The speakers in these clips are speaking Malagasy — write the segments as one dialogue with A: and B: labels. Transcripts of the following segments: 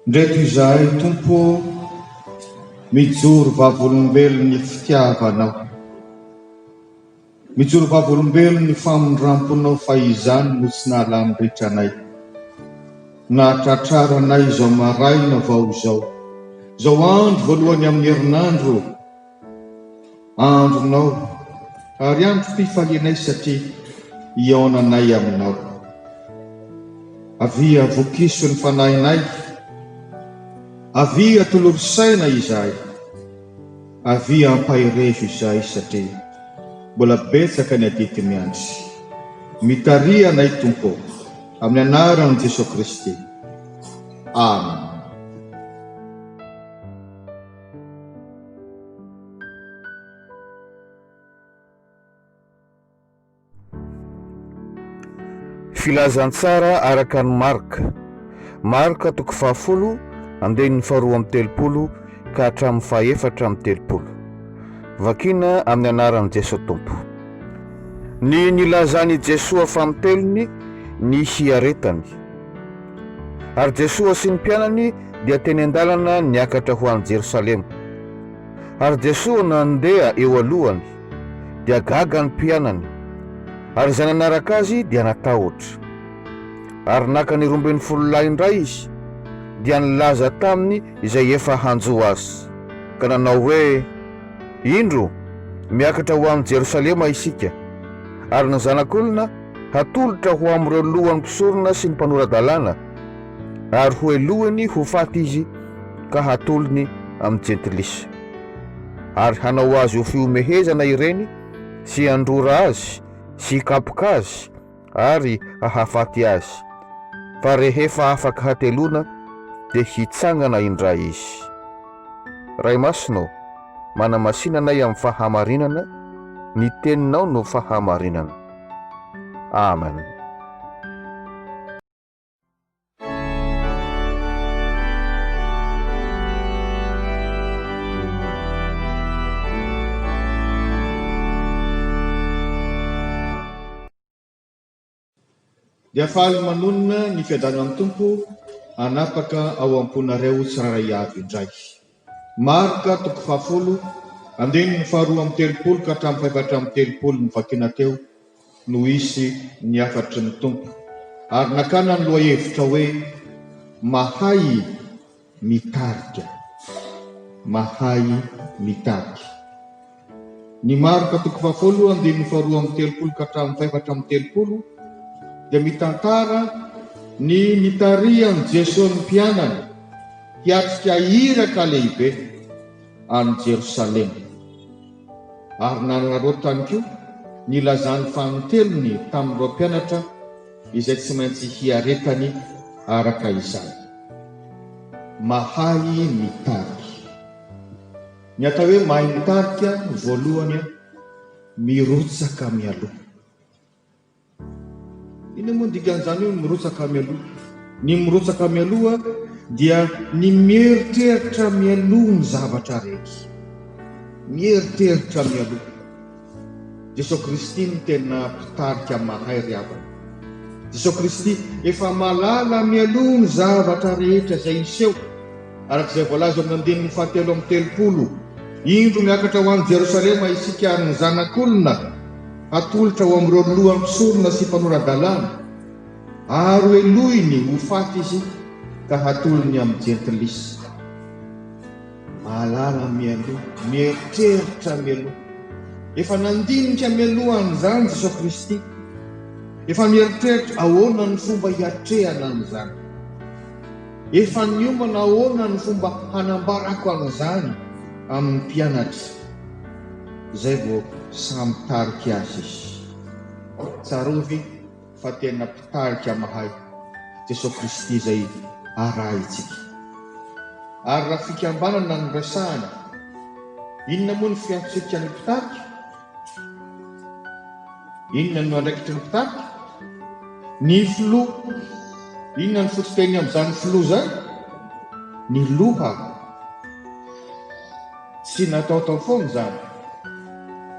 A: Ndreto izahay Tompo ô, mijoro vavolombelon'ny fitiavanao. Mijoro vavolombelon ny famindramponao fa izany no tsy nahalany ritra anay. Nahatratrara anay izao maraina vao izao. Izao andro voalohany amin ny herinandro andronao ary androm pifalianay satria hihaonanay aminao. Avia vokiso ny fanahinay. Avia tolory saina izahay. Avia ampaherezo izay satria mbola betsaka ny adidy miandry. Mitariha anay Tompo ô! Amin'ny anaran'i Jesoa Kristy. Amen.
B: Filazantsara araka an'i Marka. Marka toko fahafolo, andininy faharoa amby telopolo ka hatramin'ny fahefatra amby telopolo. Vakina amin'ny anaran'i Jesoa Tompo. Ny nilazan'i Jesoa famotelony ny hiaretany. Ary Jesoa sy ny mpianany dia teny an-dalana niakatra ho any Jerosalema. Ary Jesoa nandeha eo alohany dia gaga ny mpianany, ary izay nanaraka azy dia natahotra. Ary naka ny roambin'ny folo lahy indray izy, dia nilaza taminy izay efa hanjo azy, ka nanao hoe, Indro, miakatra ho any Jerosalema isika, ary ny Zanak'olona hatolotra ho amin'ireo lohan'ny mpisorona sy ny mpanora-dalàna, ary hohelohiny ho faty izy, ka hatolony amin'ny Jentilisa. ary hanao azy ho fihomehezana ireny sy handrora azy sy hikapoka azy ary hahafaty azy, fa rehefa afaka hateloana dia hitsangana indray izy. Ray Masina ô, manamasina anay amin'ny fahamarinana, ny Teninao no fahamarinana. Amen.
A: Dia faly manonona ny fiadanan'ny Tompo hanapaka ao am-ponareo tsirairay avy indray. Marc toko fahafolo andininy faharoa amby telopolo ka hatramin'ny fahefatra amby telopolo novakiana teo no hisy ny hafatry ny Tompo ary nakana ny lohahevitra hoe Mahay mitarika. Mahay mitarika. Ny Marka toko fahafoloo andininy faharoa amby telopolo ka hatramin'ny fahefatra amby telopolo dia mitantara ny nitarihan'i Jesoa ny mpianany hiatrika iraka lehibe any Jerosalema ary nanararaoty tany koa ny lazany fanintelony tamin'ireo mpianatra izay tsy maintsy hiaretany araka izany. Mahay mitary. Ny atao hoe mahay mitarika no voalohany an, mirotsaka mialoha. Inona moa ny dikan'izany hoe mirotsaka mialoha? Ny mirotsaka mialoha dia ny mieritreritra mialoha ny zavatra rehetra. Mieritreritra mialoha. Jesoa Kristy no tena mpitarika mahay ry havana. Jesoa Kristy efa malala mialoha ny zavatra rehetra izay hiseho, araka izay voalaza ao amin'ny andininy fahatelo amby telopolo, Indro miakatra ho any Jerosalema isika ary ny Zanak'olona hatolotra ho amin'ireo loha mpisorona sy mpanora-dalàna, ary hohelohiny ho faty izy ka hatolony amin'ny jentilisa. Mahalala mialoha, mieritreritra mialoha. Efa nandinika mialoha an'izany Jesoa Kristy. Efa mieritreritra ahoana ny fomba hiatrehana an'izany. Efa niomana ahoana ny fomba hanambarako an'izany amin'ny mpianatra. Izay vao samy tarika azy izy. Tsarovy. Fa tena mpitarika mahay Jesoa Kristy izay arahintsika. Ary raha fikambanana no resahana, inona moa ny fiantsokika ny mpitarika? Inona no andraikitry ny mpitarika? Ny filoha, inona ny fototeny amin'izany filoha izany? Ny loha. Tsy nataotao foana izany.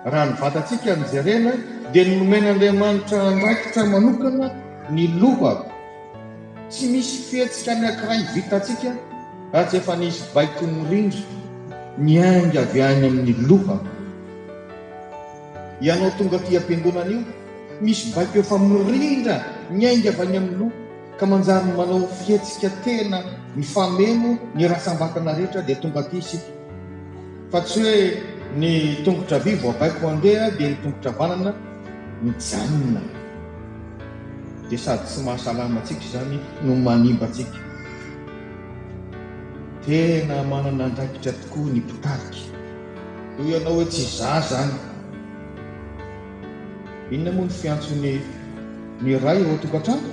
A: Raha ny vatantsika no jerena dia nomen'Andriamanitra andraikitra manokana ny loha. Tsy misy fihetsika anankiray vitantsika raha tsy efa nisy baikon'ny rindra niainga avy any amin'ny loha. Ianao tonga aty am-piangonana io, misy baiko efa mirindra niainga avy any amin'ny loha. Ka manjary manao fihetsika tena mifameno ny ratsambatana rehetra dia tonga aty isika. Fa tsy hoe ny tongotra havia vao baiko handeha dia ny tongotra havanana mijanona. Dia sady tsy mahasalama antsika izany no manimba antsika. Tena manana andraikitra tokoa ny mpitarika. Hoy ianao hoe tsy za zany. Inona moa ny fiantson'ny ny ray eo an-tokantrano?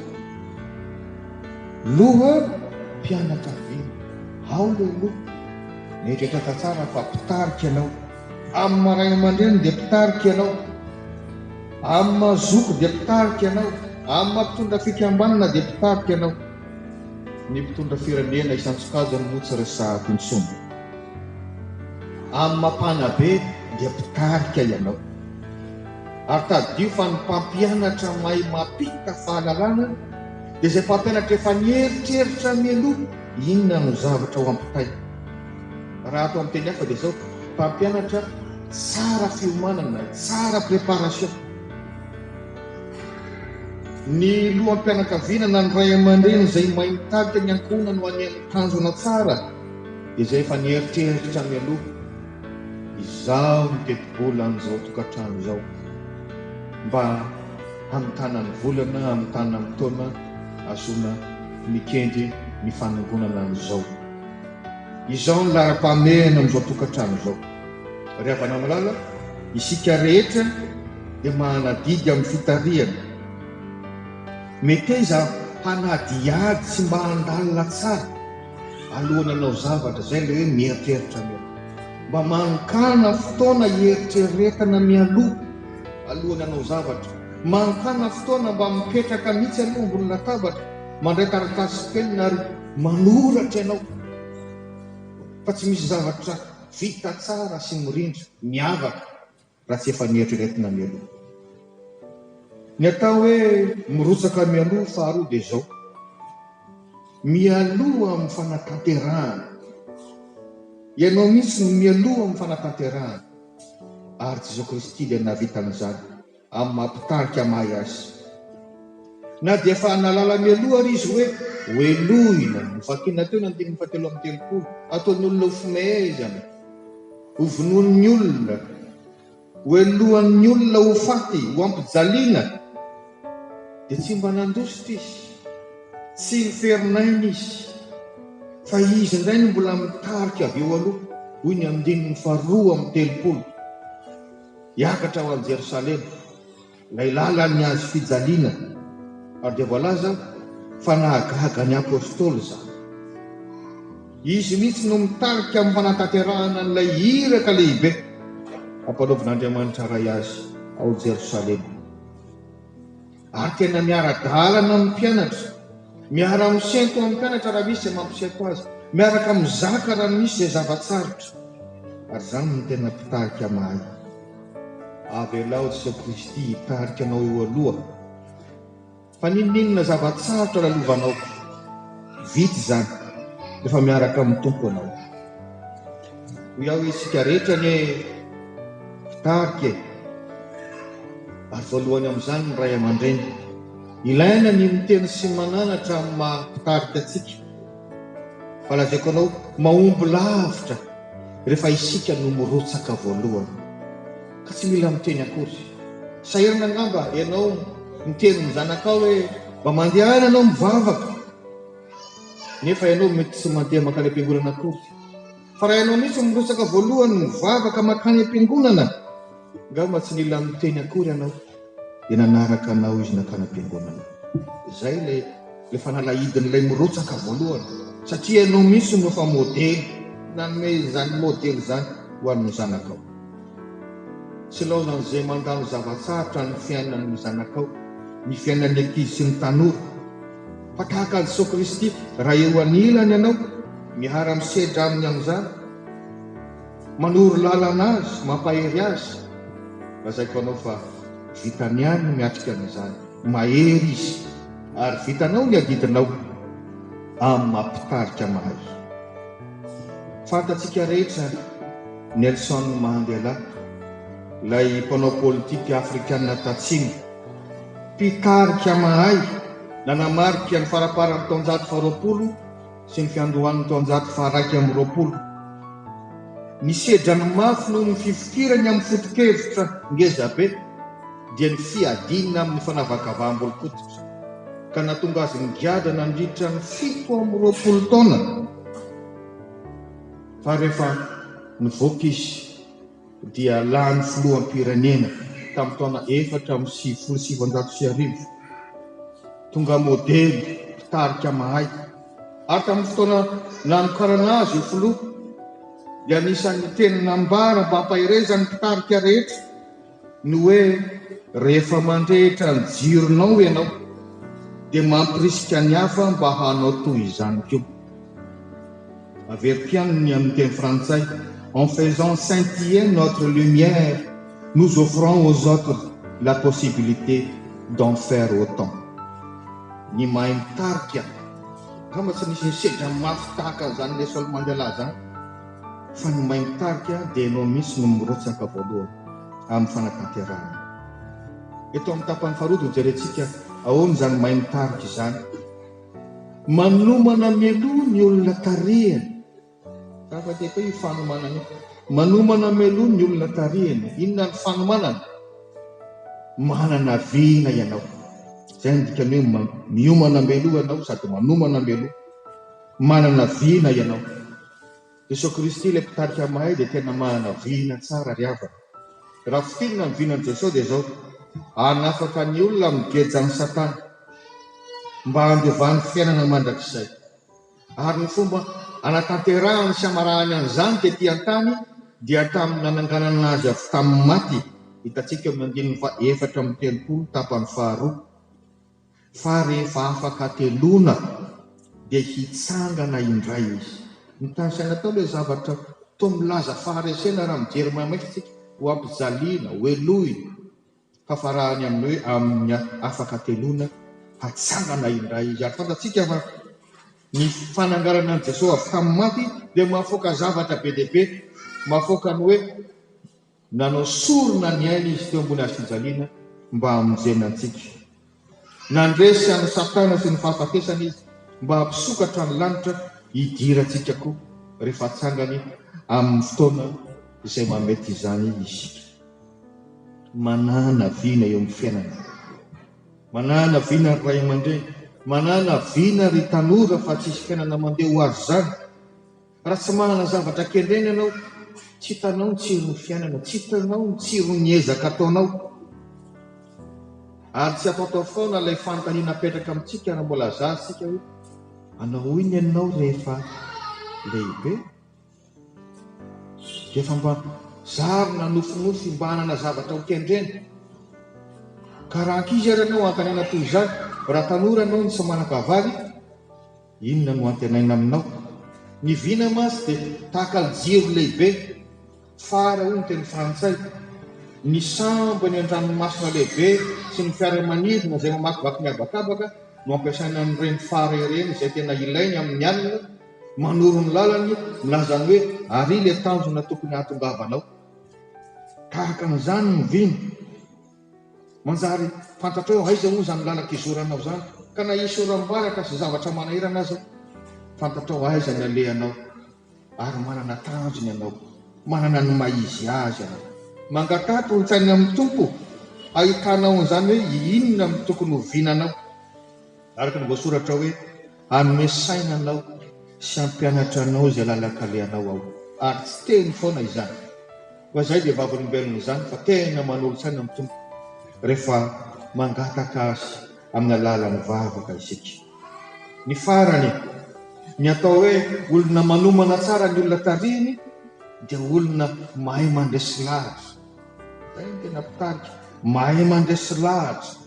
A: Loham-pianakaviana. Ao ilay loha. Mieritrereta tsara fa mpitarika ianao. Amin'ny maha ray aman-dreniny dia mpitarika ianao. Amin'ny maha zoky dia mpitarika ianao. Amin'ny maha mpitondra fikambanana dia mpitarika ianao. Ny mpitondra firenena isan-tsokajiny moa tsy resahako intsony. Amin'ny mapana be dia mpitarika ianao. Ary tadidio fa ny mpampianatra mahay mampita fahalalana dia izay mpampianatra efa nieritreritra mialoha inona no zavatra ho ampitaina. Raha atao amin'ny teny hafa dia izao, mpampianatra tsara fiomanana, tsara préparation. Ny loham-pianakaviana na ny ray aman-dreny izay mahay mitarika ny ankohonany ho any amin'ny tanjona tsara Izay efa nieritreritra mialoha, izaho no tetibola an'izao tokantrano izao, mba hamitana ny volana, hamitana ny taona ahazoana mikendry ny fanangonana an'izao. Izaho no laharam-pahamehana amin'izao tokantrano izao. Ry havana malala, isika rehetra dia manaddy amin'ny fitarihana. Meteza hanadihady sy mba handalina tsara. Alohan'ny hanao zavatra izay ilay hoe mieritreritra aloha. Mba mankana fotoana hieritreretana mialoha alohan'ny hanao zavatra. Mankana fotoana mba mipetraka mihitsy aloha ambony latabatra, mandray taratasy sy penina ary manoratra ianao fa tsy misy zavatra vita tsara sy mirindra, miavaka. raha tsy efa nieritreretina mialoha. Ny atao hoe mirotsaka mialoha faharoa dia izao, mialoha amin'ny fanatanterahana. Ianao mihitsy no mialoha amin'ny fanatanterahana, ary Jesoa Kristy dia nahavita an'izany amin'ny maha-mpitarika mahay Azy. Na dia efa nahalala mialoha ary Izy hoe hohelohina, novakina teo ny andininy fahatelo amby telopolo, ataon'ny olona ho fumee izany. Ho vonoin'ny olona, hohelohan'ny olona ho faty, ho ampijaliana. Dia tsy mba nandositra izy, tsy niferin'aina izy, fa izy indray no mbola mitarika avy eo aloha, hoy ny andininy faharoa amby telopolo, hiakatra ho any Jerosalema. Ilay lalan'ny hazo fijaliana. Ary dia voalaza fa nahagaga ny Apostoly izany. Izy mihitsy no mitarika amin'ny fanatanterahana an'ilay iraka lehibe ampanaovin'Andriamanitra Ray azy ao Jerosalema. Ary tena miara-dalana amin'ny mpianatra, miara-misento amin'ny mpianatra raha misy izay mampisento azy, miaraka mizaka raha misy izay zava-tsarotra. Ary izany no tena mpitarika mahay. Avelao Jesoa Kristy hitarika anao eo aloha fa n'inon'inona zava-tsarotra lalovanao, vita izany rehefa miaraka amin'ny Tompo ianao. Hoy aho hoe isika rehetra anie mpitarika e, ary voalohany amin'izany ny ray aman-dreny. Ilaina ny miteny sy mananatra amin'ny maha mpitarika antsika. Fa lazaiko anao, mahomby lavitra rehefa isika no mirotsaka voalohany. Ka tsy mila miteny akory. Sahirana angamba ianao miteny ny zanakao hoe mba mandehana ianao mivavaka, nefa ianao mety tsy mandeha mankany am-piangonana akory. Fa raha ianao mihitsy no mirotsaka voalohany mivavaka mankany am-piangonana, angamba tsy nila niteny akory ianao dia nanaraka anao izy nankany am-piangonana. Izay ilay ilay fanalahidin'ilay mirotsaka voalohany, satria ianao mihitsy no efa modely nanome izany modely izany ho an'ny zanakao. Tsy laozan'izay mandalo zava-tsarotra ny fiainan'ny zanakao, ny fiainan'ny ankizy sy ny tanora. Fa tahaka an'i Jesoa Kristy, raha eo anilany ianao, miara misedra Aminy amin'izany, manoro lalana Azy, mampahery Azy, lazaiko anao fa vitany ihany ny miatrika an'izany. Mahery Izy. Ary vitanao ny adidinao amin'ny maha Mpitarika mahay. Fantatsika rehetra Nelson Mahandela, ilay mpanao politika afrikana tatsimo. Mpitarika mahay nanamarika ny faraparan'ny taonjato faharoapolo sy ny fiandohan'ny taonjato faharaika amby roapolo. Nisedra ny mafy noho ny fifikirany amin'ny foto-kevitra ngezabe dia ny fiadiana amin'ny fanavakavaham-bolon-koditra, ka nahatonga azy nigadra nandritra ny fito amby roapolo taona fa rehefa nivoaka izy. dia lany filoham-pirenena tamin'ny taona efatra amby sivifolo sy sivinjato sy arivo. Tonga modely, mpitarika mahay. Ary tamin'ny fotoana nanokanana azy ho filoha, dia anisan'ny teny nambara ambampaherezan'ny mpitarika rehetra ny hoe rehefa mandrehitra ny jironao ianao, dia mampirisika ny hafa mba hanao toy izany koa. Averiko ihany ny amin'ny teny frantsay, en faisant scintiller notre lumière, nous offrons aux autres la possibilité d'en faire autant. Ny mahay mitarika, angamba tsy nisy nisedra mafy tahaka an'izany Nelson Mandela izany, fa ny mahay mitarika dia ianao mihitsy no mirotsaka voalohany amin'ny fanatanterahana. Eto amin'ny tapany faharoa dia hojerentsika ahoana izany mahay mitarika izany. Manomana mialoha ny olona tarihany. Zava-dehibe io fanomanana io. Manomana mialoha ny olona tarihany. Inona ny fanomanana? Manana vina ianao. Izay no dikany hoe miomana mialoha ianao sady manomana mialoha. Manana vina ianao. Jesoa Kristy ilay mpitarika mahay dia tena manana vina tsara ry havana. Raha fintinina ny vinan'i Jesoa dia izao, hanafaka ny olona amin'ny gejan'i Satana mba handovany fiainana mandrakizay. Ary ny fomba hanatanterahany sy hamarahany an'izany tety an-tany dia tamin'ny nananganana Azy avy tamin'ny maty, hitantsika eo amin'ny andininy faha efatra amby telopolo tapany faharoa. Fa rehefa afaka ateloana dia hitsangana indray izy. Ny tany saina tao ilay zavatra toa milaza faharesena raha mijery maimaika isika, ho ampijaliana, ho helohina. Fa farahany amin'ny hoe amin'ny afaka ateloana, hatsangana indray izy. Ary fantatsika fa ny fananganana an'i Jesoa avy tamin'ny maty dia mahafaoka zavatra be dia be, mahafaoka ny hoe. Nanao sorona ny ainy izy teo ambony hazofijaliana mba hamonjena antsika. Nandresy an'i Satana sy ny fahafatesana izy mba hampisokatra ny lanitra hidirantsika koa rehefa hatsangany amin'ny fotoana izay mahamety izany isika. Manana vina eo amin'ny fiainana. Manana vina ry ray aman-dreny, manana vina ry tanora fa tsisy fiainana mandeha ho azy izany. Raha tsy manana zavatra kendrena ianao, tsy hitanao ny tsiron'ny fiainana, tsy hitanao ny tsiron'ny ezaka ataonao. Ary tsy afaotaofy foana ilay fanontaniana apetraka amintsika raha mbola zaza isika hoe, Hanao inona ianao rehefa lehibe? Dia efa mba zarina nofinofy mba hanana zavatra ho kendrena. Ka raha ankizy ary ianao, antanina toy izany. Raha tanora ianao no tsy manan-kavary, Inona no antenaina aminao? Ny vina mantsy dia tahaka ny jiro lehibe, phare hoy ny teny frantsay. Ny sambo eny an-dranomasina lehibe sy ny fiaramanidina izay mamakivaky ny habakabaka no ampiasaina an'ireny phare ireny izay tena ilainy amin'ny alina, manoro ny lalany, milaza ny hoe ary ilay tanjona tokony hahatongavanao. Tahaka an'izany ny vina. Manjary fantatrao aiza moa izany lalan-kizoranao izany, ka na hisy oram-baratra sy zavatra manahirana aza, fantatrao aiza ny alehanao, ary manana tanjona ianao, manana ny maha izy azy ianao. Mangataha tolo-tsaina amin'ny Tompo hahitanao an'izany hoe inona no tokony ho vinanao, araka ny voasoratra hoe. Hanome saina anao sy hampianatra anao izay lalan-kalehanao aho, ary tsy teny foana izany, fa izay dia vavolombelona izany fa tena manolo-tsaina ny Tompo rehefa mangataka Azy amin'ny alalan'ny vavaka isika. Ny farany, ny atao hoe olona manomana tsara ny olona tarihiny dia olona mahay mandresy lahatra. Izay no tena mpitarika, mahay mandresy lahatra.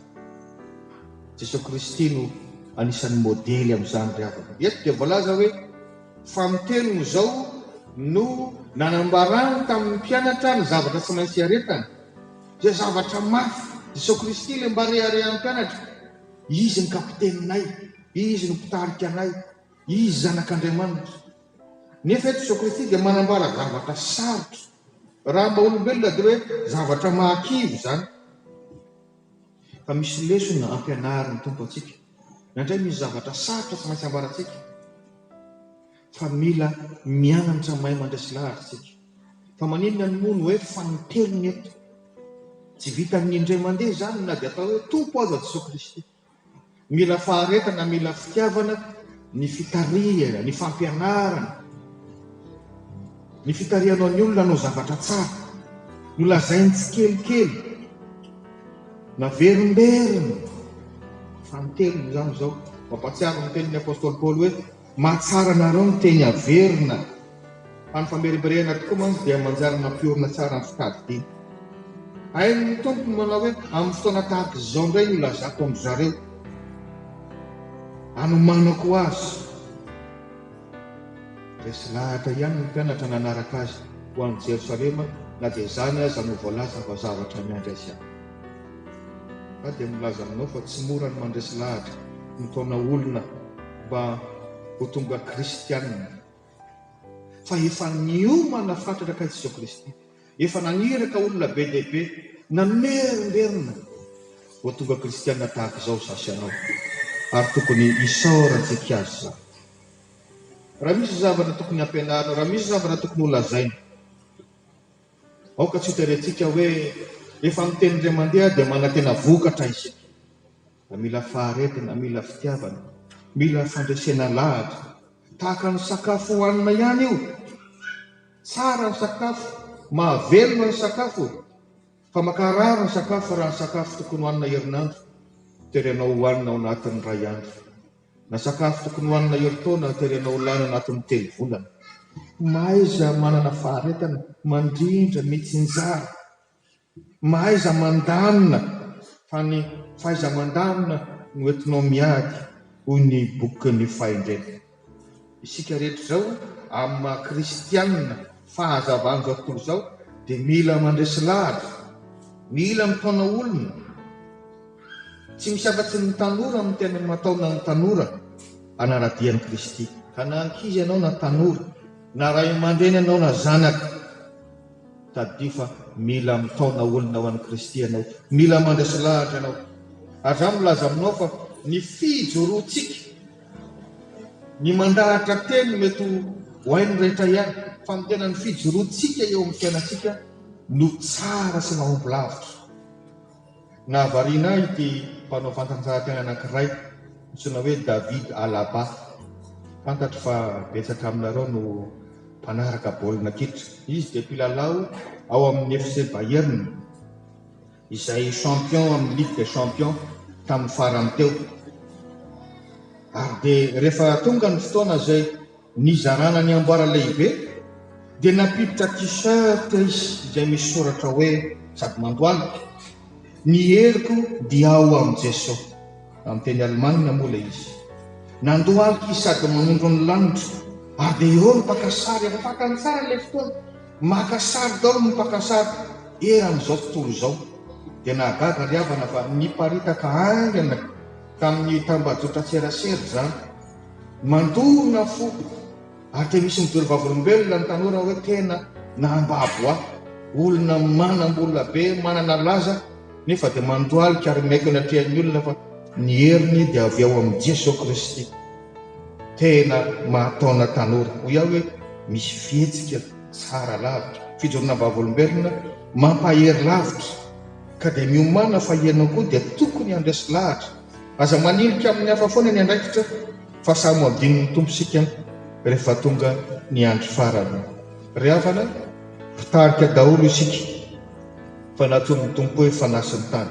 A: Jesoa Kristy no anisan'ny modely amin'izany ry havana. Eto dia voalaza hoe, Fa amin'ny teniny izao no nanambarany tamin'ny mpianatra ny zavatra tsy maintsy hiaretany. Dia zavatra mafy, Jesoa Kristy ilay mba reharehan'ny mpianatra. Izy no kapiteninay, Izy no mpitarika anay, Izy Zanak'Andriamanitra. Nefa eto Jesoa Kristy dia manambara zavatra sarotra. Raha amin'ny maha-olombelona dia hoe zavatra mahakivy izany. Fa misy lesona ampianarin'ny Tompo antsika, na indray misy zavatra sarotra tsy maintsy ambarantsika, fa mila mianatra mahay mandresy lahatra isika. Fa maninona no moa no hoe fanintelony eto? Tsy vitan'ny indray mandeha izany na dia atao hoe Tompo aza Jesoa Kristy. Mila faharetana, mila fitiavana ny fitarihana, ny fampianarana, ny fitarihanao ny olona hanao zavatra tsara. Nolazainy tsikelikely, naverimberiny, fanintelony izany izao. Mampahatsiaro ny tenin'ny apostoly Paoly hoe, Mahatsara anareo ny teny averina fa ny famerimberehana tokoa mantsy dia manjary mampiorina tsara ny fitadidiana. Hain'ny Tompo ny manao hoe amin'ny fotoana tahaka izao indray no hilazako an-dry zareo anomanako azy. Resy lahatra ihany ny mpianatra nanaraka azy ho any Jerosalema na dia izany aza no voalaza fa zavatra miandry azy any. Aho dia milaza aminao fa tsy mora ny mandresy lahatra ny taona olona mba ho tonga kristianina. Fa efa niomana fatratra kay Jesoa Kristy. Efa naniraka olona be dia be, namerimberina ho tonga kristianina tahaka izao izaho sy ianao. Ary tokony hisaorantsika Azy izany. Raha misy zavatra tokony hampianarina, raha misy zavatra tokony holazaina, Aoka tsy hoteriantsika hoe rehefa miteny indray mandeha dia manantena vokatra isika, fa mila faharetana, mila fitiavana, mila fandresena lahatra. Tahaka ny sakafo hohanina ihany io. Tsara ny sakafo, mahavelona ny sakafo, fa mankarary ny sakafo raha ny sakafo tokony hohanina herinandro, toeranao hohanina ao anatin'ny iray andro. Na sakafo tokony hohanina herintaona tery anao lany anatin'ny telo volana. Mahaiza manana faharetana, mandrindra, mitsinjara. Mahaiza mandamina fa ny fahaiza-mandamina no entinao miady, hoy ny bokin'ny fahendrena. Isika rehetra izao amin'ny maha kristianina fahazavan'izao tontolo izao dia mila mandresy lahatra, mila mitaona olona. Tsy misy afa-tsy ny tanora no tena mataona ny tanora hanara-dia an'i Kristy. Ka na ankizy ianao na tanora, na ray aman-dreny ianao na zanaka, tadidio fa mila mitaona olona ho an'i Kristy ianao, mila mandresy lahatra ianao. Ary izaho milaza aminao fa ny fijoroantsika, Ny mandahatra teny mety ho hain'ny rehetra ihany fa ny tena ny fijoroantsika eo amin'ny fiainantsika no tsara sy mahomby lavitra. Nahavariana ahy ity mpanao fanatanjahantena anankiray antsoina hoe David Alaba. Fantatro fa betsaka aminareo no mpanaraka baolina kitra. Izy dia mpilalao ao amin'ny FC Bayern. izay champion amin'ny ligue des champions tamin'ny farany teo ary dia rehefa tonga ny fotoana izay nizarana ny amboara lehibe dia nampiditra t-shirt izy izay misy soratra hoe sady mandohalika ny heriko dia ao amin'i Jeso amin'ny teny alemana moa ilay izy nandohalika izy sady manondro ny lanitra ary dia eo ny mpaka sary afaka ny tsara ilay fotoana Maka sary daholo ny mpaka sary eran'izao tontolo izao. Dia nahagaga ry havana fa niparitaka haingana tamin'ny tambajotran-tserasera izany. Mandona fo ary dia misy mijery vavolombelona ny tanora hoe tena nahambabo ahy. Olona manam-bola be, manana laza nefa dia mandohalika ary miaiky eny atrehan'ny olona fa ny heriny dia avy ao amin'i Jesoa Kristy. Tena mahataona tanora, hoy aho hoe misy fihetsika tsara lavitra, fijoroana vavolombelona mampahery lavitra, ka dia miomàna fa ianao koa dia tokony handresy lahatra. Aza manilika amin'ny hafa foana ny andraikitra fa samy ho adinon'ny Tompo isika rehefa tonga ny andro farany. Ry havana, mpitarika daholo isika, fa natonin'ny Tompo hoe fanahy sy ny tany.